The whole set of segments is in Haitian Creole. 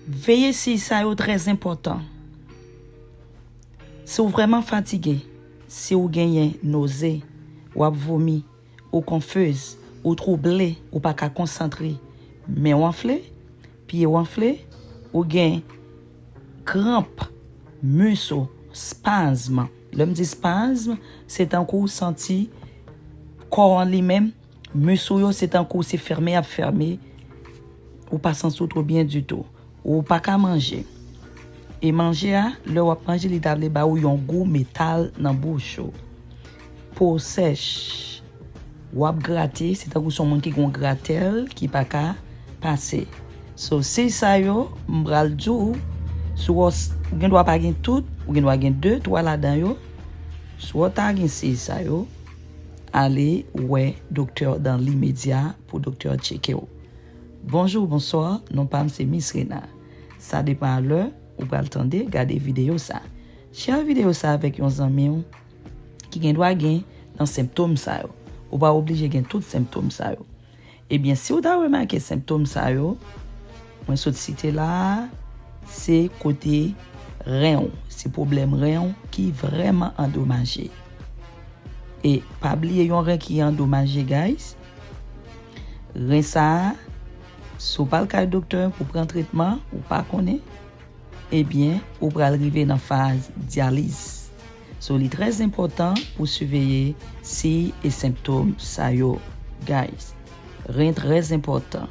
Veye siy sa yo trè zenpòtan. Si w vrèman fatige, si w genyen noze, w ap vomi, ou konfiz, ou twouble, ou pa ka konsantre, men w anfle, pye w anfle, ou gen kranp mis ou, spasm, lè m di spasm se tankou w santi kò an li menm. Mus ou yo se tankou se fèmen yap fème ou pa santi w two byen ditou. Ou pa ka manje. E manje a, lè wap manje li ta vle ba ou yon gou metal nan bouch ou. Po w sèch. Wap grate, se tankou se yon moun ki gen yon gratèl ki pa ka pase. So 6 sa yo, m pral di w, si w gen dwa pa gen tout, ou gen dwa gen 2, 3 ladan yo. Si w ta gen 6 sa yo. Ale wè doktè dan limedya pou doktè tcheke w. Bonjour bonsoir non pam se miss Rena sa depan a lè ou pral tande gade video sa share video sa avèk yon zanmiw ki gen dwa gen nan senptom sa yo ou pa oblije gen tout senptom sa yo Ebyen si ou ta remake senptom sa yo mwen sot site la a se kote ren ou, se pwoblèm ren ou ki vrèman andomaje. E pa bliye yon ren ki andomaje guys, ren sa a si ou pa al kay doktè pou pran tretman ou pa konnen, ebyen ou pral rive nan faz dyaliz. So li trè enpòtan pou siveye siy e senptom sa yo guys. Ren trè enpòtan,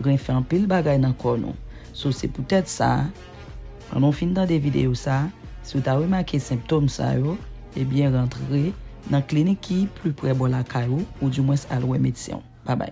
ren fè anpil bagay nan kò nou so se poutèt sa pandan w fin tande videyo sa si w ta remake senptom sa yo ebyen rantre nan klinik ki pli prè bò lakay ou ou di mwens al wè medsen w. Babay.